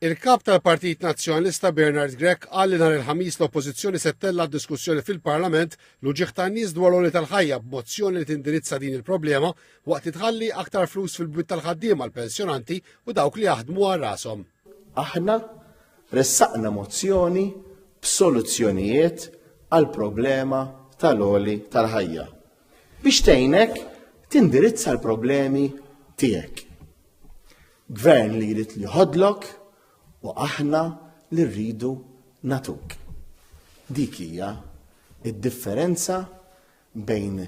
Il-Kap tal-Partit Nazzjonalista Bernard Grech qal li nhar il-Ħamis l-Oppożizzjoni se ttella' diskussjoni fil-Parlament l-uġigħ tan-nies dwar l-għoli tal-ħajja b'mozzjoni li tindirizza din il-problema waqt li tħalli aktar flus fil-bwiet tal-ħaddiema l-pensjonanti u dawk li jaħdmu għal rashom. Aħna ressaqna mozzjoni b'soluzzjonijiet għall-problema tal-għoli tal-ħajja. biex tgħinek tindirizza l-problemi tiegħek. Gvern li jrid li jħodlok u aħna li rridu natuk. Dik hija id-differenza bejn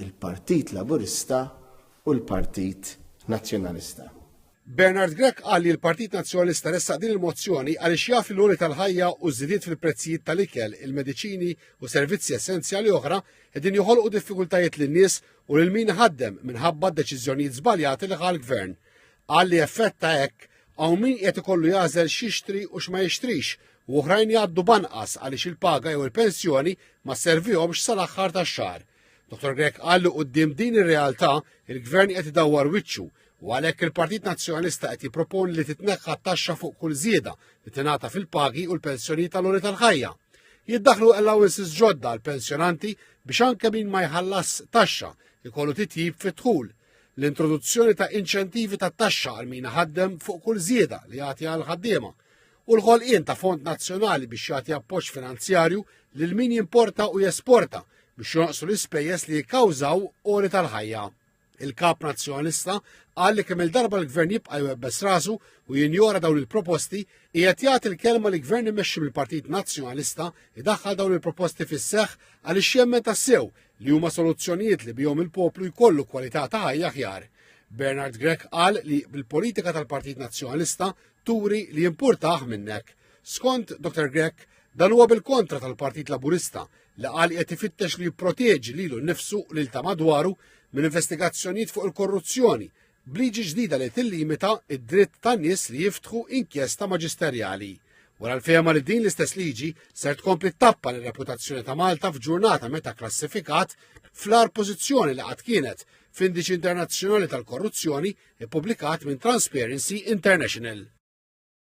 il-Partit Laburista u l-Partit Nazzjonalista. Bernard Grech qal li l-Partit Nazzjonalista ressaq din il-mozzjoni għaliex jaf li l-għoli tal-ħajja u ż-żidiet fil-prezzijiet tal-ikel, il-mediċini u servizzi essenzjali oħra qegħdin joħolqu diffikultajiet lin-nies u lil min iħaddem minħabba d-deċiżjonijiet żbaljati li ħa l-Gvern. Qal li effett ta' hekk hawn min qiegħed ikollu jagħżel x'jixtri u x'ma jixtrix u oħrajn jgħaddu b'anqas għaliex il-paga jew il-pensjoni ma sservihomx sal-aħħar tax-xahar. Dottor Grech qal li quddiem din ir-realtà, il-Gvern qed idawwar wiċċu u għalhekk il-Partit Nazzjonalista qed jipproponi li titneħħa t-taxxa fuq kull żieda li tingħata fil-pagi u l-pensjonijiet tal-għoli tal-ħajja. Jiddaħlu allowances ġodda għal pensjonanti biex anke min ma jħallas taxxa ikollu titjib fit-dħul. L-introduzzjoni ta' inċentivi ta' taxxa għal min ħaddem fuq kull żieda li jagħti għal ħaddiema u l-ħolqien ta' fond nazzjonali biex jagħti appoġġ finanzjarju lil min jimporta u jesporta biex jonqsu l-ispejjeż li jikkawżaw għoli tal-ħajja. Il-Kap Nazzjonalista qal li kemm il-darba l-Gvern jibqa' jwebbes rasu u jinjora dawn il-proposti qiegħed jagħti l-kelma li Gvern imexxi mill-Partit Nazzjonalista jdaħħal dawn il-proposti fis-seħħ għaliex jemmen tassew li huma soluzzjonijiet li bihom il-poplu jkollu kwalità ta' ħajja aħjar. Bernard Grech qal li bil-politika tal-Partit Nazzjonalista turi li jimpurtah minnek. Skont Dr. Grech, dan huwa bil-kontra tal-Partit Laburista li qal qed ifittex li jipproteġi lilu nnifsu u lil ta' madwaru minn investigazzjonijiet fuq il-korruzzjoni b'liġi ġdida li tillimita id-dritt tan-nies li jiftħu inkjesta maġisterjali. Wara l-fehma li din l-istess liġi ser tkompli tappa l reputazzjoni ta' Malta f'ġurnata meta klassifikat fl-ar pożizzjoni li qatt kienet f'indiċi internazzjonali tal-korruzzjoni ippubblikat minn Transparency International.